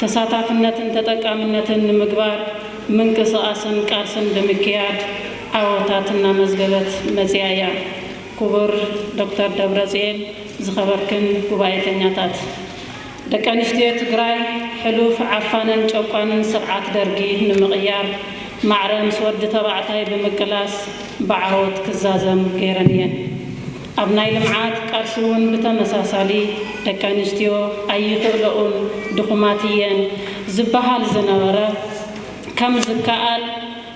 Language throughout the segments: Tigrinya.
ተሳታፍነትን ተጠቃምነትን ንምግባር ምንቅስቓስን ቃልስን ብምክያድ ዓወታት እናመዝገበት መፂኣ እያ። ክቡር ዶክተር ደብረፅዬን ዝኸበርክን ጉባኤተኛታት! ደቂ ኣንስትዮ ትግራይ ሕሉፍ ዓፋንን ጨቋንን ስርዓት ደርጊ ንምቕያር ማዕረ ምስ ወዲ ተባዕታይ ብምቅላስ ብዓወት ክዛዘም ገይረን እየን። ኣብ ናይ ልምዓት ቃልሲ እውን ብተመሳሳሊ ደቂ ኣንስትዮ ኣይኽእለኡን፣ ድኹማት እየን ዝበሃል ዝነበረ ከም ዝከኣል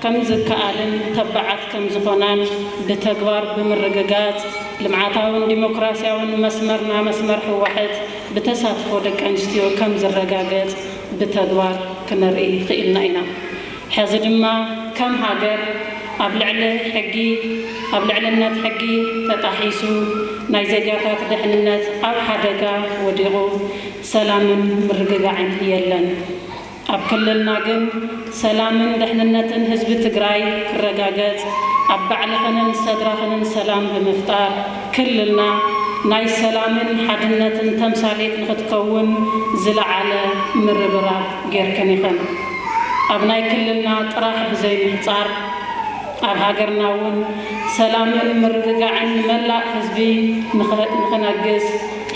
ከም ዝከኣልን ተባዓት ከም ዝኾናን ብተግባር ብምርግጋፅ ልምዓታውን ዲሞክራሲያውን መስመርና መስመር ህወሕት ብተሳትፎ ደቂ ኣንስትዮ ከም ዝረጋገፅ ብተግባር ክነርኢ ኽኢልና ኢና። ሕዚ ድማ ከም ሃገር ኣብ ልዕሊ ሕጊ ኣብ ልዕልነት ሕጊ ተጣሒሱ ናይ ዜጋታት ደሕንነት ኣብ ሓደጋ ወዲቑ ሰላምን ምርግጋዕን የለን። ኣብ ክልልና ግን ሰላምን ደሕንነትን ህዝቢ ትግራይ ክረጋገፅ ኣብ ባዕልኽንን ሰድራኽንን ሰላም ብምፍጣር ክልልና ናይ ሰላምን ሓድነትን ተምሳሌት ንኽትከውን ዝለዓለ ምርብራብ ጌርክን ኢኽን። ኣብ ናይ ክልልና ጥራሕ ብዘይምሕጻር ኣብ ሃገርና እውን ሰላምን ምርግጋዕን ንመላእ ህዝቢ ንክነግስ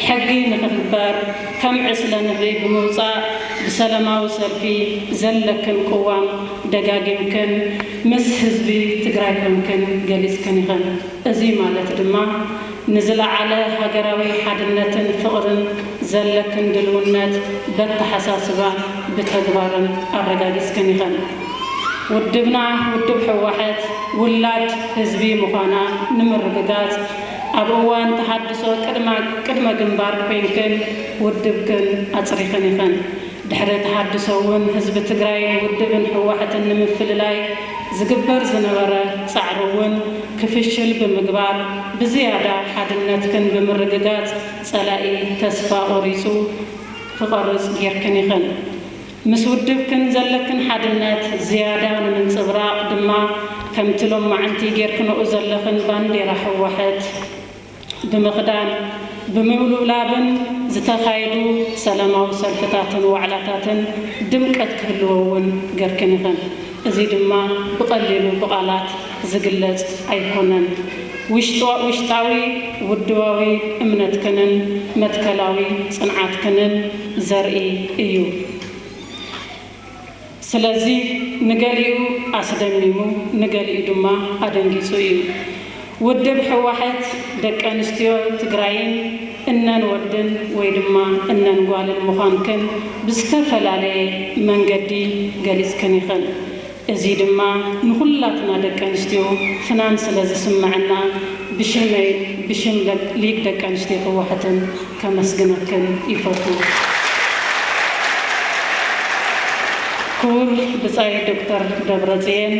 ሕጊ ንክክበር ከም ዕስለ ንህቢ ብምውጻእ ብሰለማዊ ሰልፊ ዘለክን ቅዋም ደጋጊምክን ምስ ህዝቢ ትግራይ ኮንክን ገሊጽክን ኢኽን። እዙይ ማለት ድማ ንዝለዓለ ሃገራዊ ሓድነትን ፍቕርን ዘለክን ድልውነት በተሓሳስባን ብተግባርን ኣረጋጊጽክን ኢኽን። ውድብና ውድብ ህወሐት ውላድ ህዝቢ ምዃና ንምርግጋጽ ኣብ እዋን ተሃድሶ ቅድመ ግንባር ኮይንክን ውድብክን ኣጽሪኽን ኢኽን። ድሕሪ ተሃድሶ እውን ህዝቢ ትግራይ ንውድብን ህወሐትን ንምፍልላይ ዝግበር ዝነበረ ፃዕሪ እውን ክፍሽል ብምግባር ብዝያዳ ሓድነትክን ብምርግጋፅ ፀላኢ ተስፋ ቆሪፁ ክቐርፅ ገይርክን ኢኽን። ምስ ውድብክን ዘለክን ሓድነት ዝያዳ ንምንፅብራቕ ድማ ከምቲ ሎማዕንቲ ገይርክነኡ ዘለኽን ባንዴራ ህወሐት፣ ብምኽዳን፣ ብምውልውላብን ዝተኻየዱ ሰላማዊ ሰልፍታትን ዋዕላታትን ድምቀት ክህልዎ እውን ገርክን ኢኽን። እዚ ድማ ብቐሊሉ ብቓላት ዝግለጽ ኣይኮነን። ውሽጣዊ ውድባዊ እምነትክንን መትከላዊ ጽንዓትክንን ዘርኢ እዩ። ስለዚ ንገሊኡ ኣስደሚሙ ንገሊኡ ድማ ኣደንጊፁ እዩ። ውድብ ህወሐት ደቀንስትዮ ትግራይን እነን ወድን ወይ ድማ እነን ጓልን ምዃንክን ብዝተፈላለየ መንገዲ ገሊፅክን ኢኽን። እዙይ ድማ ንኹላትና ደቀንስትዮ ፍናን ስለዝስመዐና ብሽመይን ብሽም ሊግ ደቀንስትዮ ህወሐትን ከመስግነክን ይፈቱ። ክቡር ብጻይ ዶክተር ደብረጽዬን፣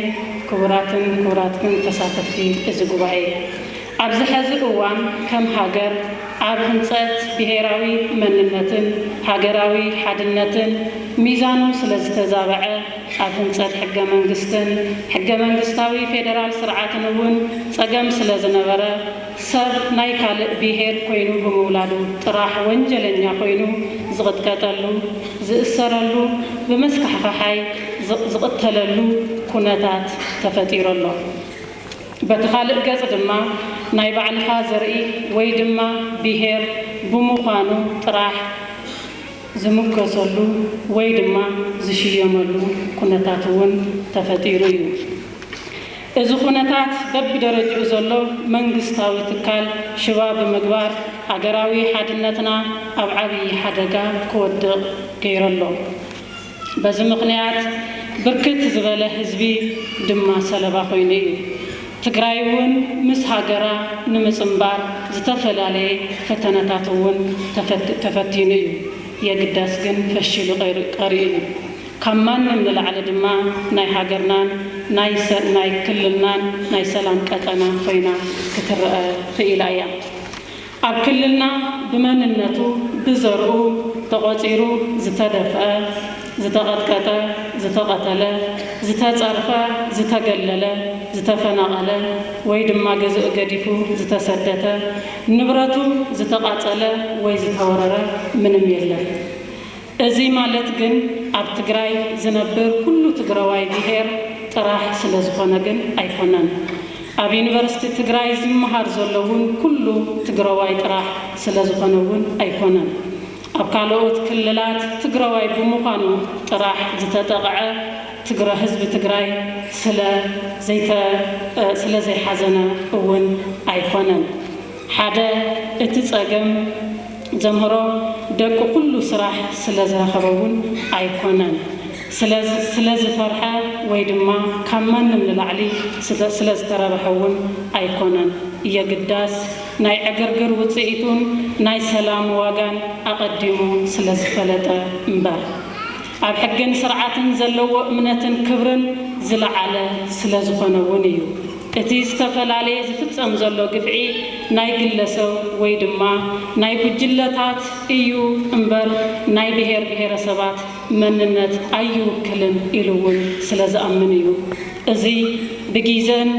ክቡራትን ክቡራትክን ተሳተፍቲ እዚ ጉባኤ፣ ኣብዚ ሐዚ እዋን ከም ሃገር ኣብ ህንጸት ብሄራዊ መንነትን ሃገራዊ ሓድነትን ሚዛኑ ስለዝተዛበዐ ኣብ ህንጸት ሕገ-መንግስትን ሕገ-መንግስታዊ ፌደራል ስርዓትን እውን ጸገም ስለዝነበረ ሰብ ናይ ካልእ ብሄር ኮይኑ ብምውላዱ ጥራሕ ወንጀለኛ ኮይኑ ዝቕጥቀጠሉ፣ ዝእሰረሉ፣ ብመስካሕኻሓይ ዝቕተለሉ ኩነታት ተፈጢሩ ኣሎ። በቲ ካልእ ገፅ ድማ ናይ ባዕልኻ ዘርኢ ወይ ድማ ብሄር ብሙዃኑ ጥራሕ ዝሙገሰሉ ወይ ድማ ዝሽየመሉ ኩነታት እውን ተፈጢሩ እዩ። እዚ ኩነታት በቢደረጅኡ ዘሎ መንግስታዊ ትካል ሽባ ብምግባር ሃገራዊ ሓድነትና ኣብ ዓብዪ ሓደጋ ክወድቕ ገይሩ ኣሎ። በዚ ምኽንያት ብርክት ዝበለ ህዝቢ ድማ ሰለባ ኮይኑ እዩ። ትግራይ እውን ምስ ሃገራ ንምፅምባር ዝተፈላለየ ፈተነታት እውን ተፈቲኑ እዩ። የግዳስ ግን ፈሺሉ ቀሪኡ እዩ። ካብ ማንም ንላዕሊ ድማ ናይ ሃገርናን ናይ ክልልናን ናይ ሰላም ቀጠና ኮይና ክትረኣ ክኢላ እያ። ኣብ ክልልና ብመንነቱ፣ ብዘርኡ ተቖጺሩ ዝተደፍኣ፣ ዝተቐጥቀጠ፣ ዝተቐተለ፣ ዝተጸርፈ፣ ዝተገለለ፣ ዝተፈናቐለ ወይ ድማ ገዝኡ ገዲፉ ዝተሰደተ፣ ንብረቱ ዝተቓጸለ ወይ ዝተወረረ ምንም የለን። እዚ ማለት ግን ኣብ ትግራይ ዝነብር ኩሉ ትግረዋይ ብሄር ጥራሕ ስለዝኾነ ግን ኣይኮነን። ኣብ ዩኒቨርስቲ ትግራይ ዝመሃር ዘሎ እውን ኩሉ ትግረዋይ ጥራሕ ስለዝኾነ እውን ኣይኮነን። ኣብ ካልኦት ክልላት ትግረዋይ ብምዃኑ ጥራሕ ዝተጠቕዐ ትግረ ህዝቢ ትግራይ ስለ ዘይተ ስለ ዘይሓዘነ እውን ኣይኮነን። ሓደ እቲ ፀገም። ዘምህሮ ደቁ ኩሉ ስራሕ ስለ ዝረኸበ እውን ኣይኮነን። ስለ ስለ ዝፈርሐ ወይ ድማ ካብ ማንም ንላዕሊ ስተ ስለ ዝተረበሐ እውን ኣይኮነን። የግዳስ ናይ ዕግርግር ውፅኢቱን ናይ ሰላም ዋጋን ኣቐዲሙ ስለ ዝፈለጠ እምበር። ኣብ ሕግን ስርዓትን ዘለዎ እምነትን ክብርን ዝለዓለ ስለዝኾነ እውን እዩ። እቲ ዝተፈላለየ ዝፍፀም ዘሎ ግፍዒ ናይ ግለሰብ ወይ ድማ ናይ ጉጅለታት እዩ እምበር ናይ ብሄር ብሄረሰባት መንነት ኣይውክልን ኢሉ እውን ስለዝኣምን እዩ። እዚ ብጊዘን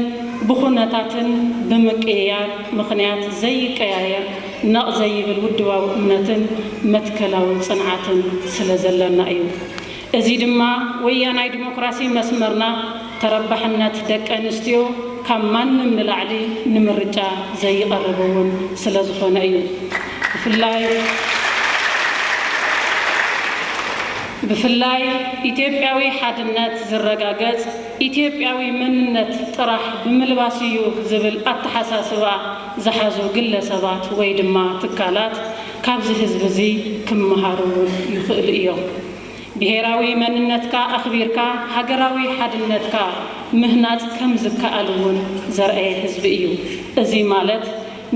ብኹነታትን ብምቅይያር ምኽንያት ዘይቀያየር ነቕ ዘይብል ውድባዊ እምነትን መትከላዊ ጽንዓትን ስለ ዘለና እዩ። እዚ ድማ ወያናይ ዲሞክራሲ መስመርና ተረባሕነት ደቂ ኣንስትዮ ካብ ማንም ንላዕሊ ንምርጫ ዘይቐርብ እውን ስለ ዝኾነ እዩ። ብፍላይ ብፍላይ ኢትዮጵያዊ ሓድነት ዝረጋገጽ ኢትዮጵያዊ መንነት ጥራሕ ብምልባስ እዩ ዝብል ኣተሓሳስባ ዝሓዙ ግለሰባት ወይ ድማ ትካላት ካብዚ ህዝቢ እዚ ክመሃሩ እውን ይኽእሉ እዮም። ብሄራዊ መንነትካ ኣኽቢርካ ሃገራዊ ሓድነትካ ምህናፅ ከም ዝከኣል እውን ዘርኣየ ህዝቢ እዩ። እዚ ማለት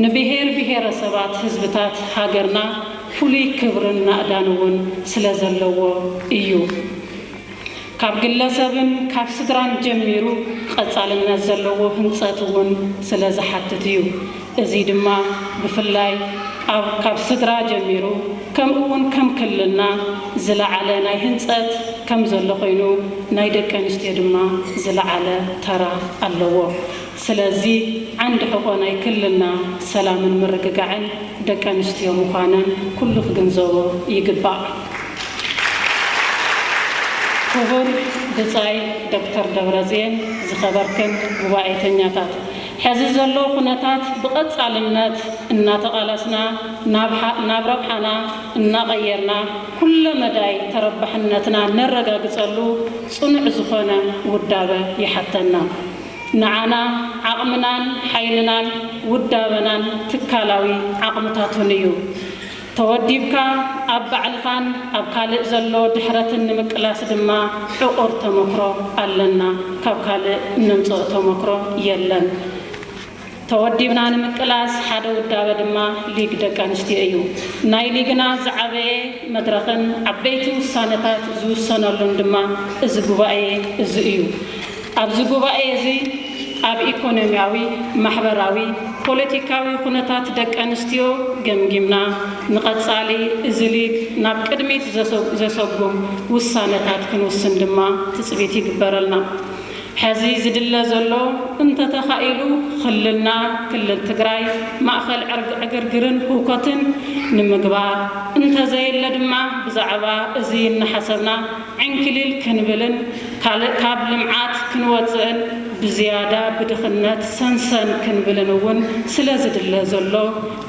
ንብሄር ብሄረሰባት ህዝብታት ሃገርና ፍሉይ ክብርን ናእዳን እውን ስለዘለዎ እዩ። ካብ ግለሰብን ካብ ስድራን ጀሚሩ ቐፃልነት ዘለዎ ህንፀት እውን ስለ ዝሓትት እዩ። እዙይ ድማ ብፍላይ ኣብ ካብ ስድራ ጀሚሩ ከምኡ እውን ከም ክልልና ዝለዓለ ናይ ህንፀት ከም ዘሎ ኾይኑ ናይ ደቂ ኣንስትዮ ድማ ዝለዓለ ተራ ኣለዎ። ስለዚ ዓንዲ ሕቆ ናይ ክልልና ሰላምን ምርግጋዕን ደቂ ኣንስትዮ ምዃነን ኩሉ ክግንዘቦ ይግባእ። ክቡር ብጻይ ዶክተር ደብረጽየን ዝኸበርክን ጉባኤተኛታት ሕዚ ዘሎ ኩነታት ብቐጻልነት እናተቓለስና ናብ ረብሓና እናቐየርና ኩለ መዳይ ተረባሕነትና ነረጋግጸሉ ጽኑዕ ዝኾነ ውዳበ ይሓተና። ንዓና ዓቕምናን ሓይልናን ውዳበናን ትካላዊ ዓቕምታቱን እዩ። ተወዲብካ ኣብ ባዕልኻን ኣብ ካልእ ዘሎ ድሕረትን ንምቅላስ ድማ ዕቑር ተመክሮ ኣለና። ካብ ካልእ እነምጽኦ ተመክሮ የለን። ተወዲብና ንምቅላስ ሓደ ውዳበ ድማ ሊግ ደቂ ኣንስትዮ እዩ። ናይ ሊግና ዝዓበየ መድረኽን ዓበይቲ ውሳነታት ዝውሰነሉን ድማ እዚ ጉባኤ እዚ እዩ። ኣብዚ ጉባኤ እዚ ኣብ ኢኮኖሚያዊ፣ ማሕበራዊ፣ ፖለቲካዊ ኩነታት ደቂ ኣንስትዮ ገምጊምና ንቐፃሊ እዚ ሊግ ናብ ቅድሚት ዘሰጉም ውሳነታት ክንውስን ድማ ትፅቢት ይግበረልና። ሐዚ ዝድለ ዘሎ እንተተኻኢሉ ኽልልና ክልል ትግራይ ማእኸል ዕግርግርን ህውከትን ንምግባር እንተዘየለ ድማ ብዛዕባ እዚ እናሓሰብና ዕንኪሊል ክንብልን ካልእ ካብ ልምዓት ክንወፅእን ብዝያዳ ብድኽነት ሰንሰን ክንብልን እውን ስለዝድለ ዘሎ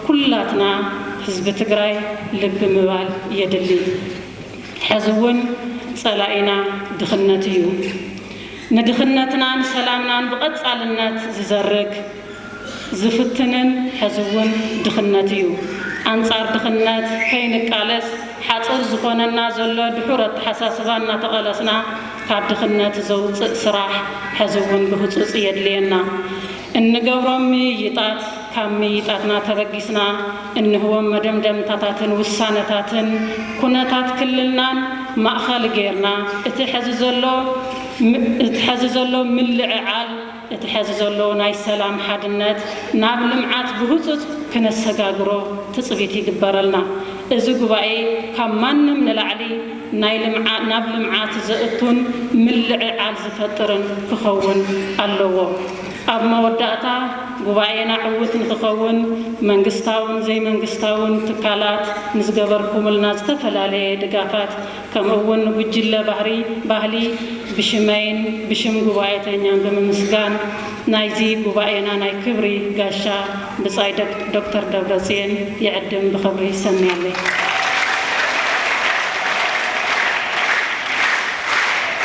ኩላትና ህዝቢ ትግራይ ልቢ ምባል የድሊ። ሕዚ እውን ፀላኢና ድኽነት እዩ። ንድኽነትናን ሰላምናን ብቐፃልነት ዝዘርግ፣ ዝፍትንን ሕዚ እውን ድኽነት እዩ። ኣንፃር ድኽነት ከይንቃለስ ሓፁር ዝኾነና ዘሎ ድሑር ኣተሓሳስባ እናተቐለስና ካብ ድኽነት ዘውፅእ ስራሕ ሕዚ እውን ብህፁፅ የድልየና። እንገብሮም ምይይጣት፣ ካብ ምይይጣትና ተበጊስና እንህቦም መደምደምታታትን ውሳነታትን ኩነታት ክልልናን ማእኸል ገይርና እቲ ሐዚ ዘሎ እቲ ሐዚ ዘሎ ምልዕዓል እቲ ሐዚ ዘሎ ናይ ሰላም ሓድነት ናብ ልምዓት ብህፁፅ ክነሰጋግሮ ትፅቢት ይግበረልና። እዚ ጉባኤ ካብ ማንም ንላዕሊ ናይ ልምዓ ናብ ልምዓት ዘእቱን ምልዕዓል ዝፈጥርን ክኸውን ኣለዎ። ኣብ መወዳእታ፣ ጉባኤና ዕዉት ንክኸውን መንግስታውን ዘይመንግስታውን ትካላት ንዝገበርኩምልና ዝተፈላለየ ድጋፋት ከምኡ እውን ንጉጅለ ባህሪ ባህሊ ብሽመይን ብሽም ጉባኤተኛን ብምምስጋን ናይዚ ጉባኤና ናይ ክብሪ ጋሻ ብጻይ ዶክተር ደብረጽዮን ይዕድም ብኸብሪ ይሰምያለይ።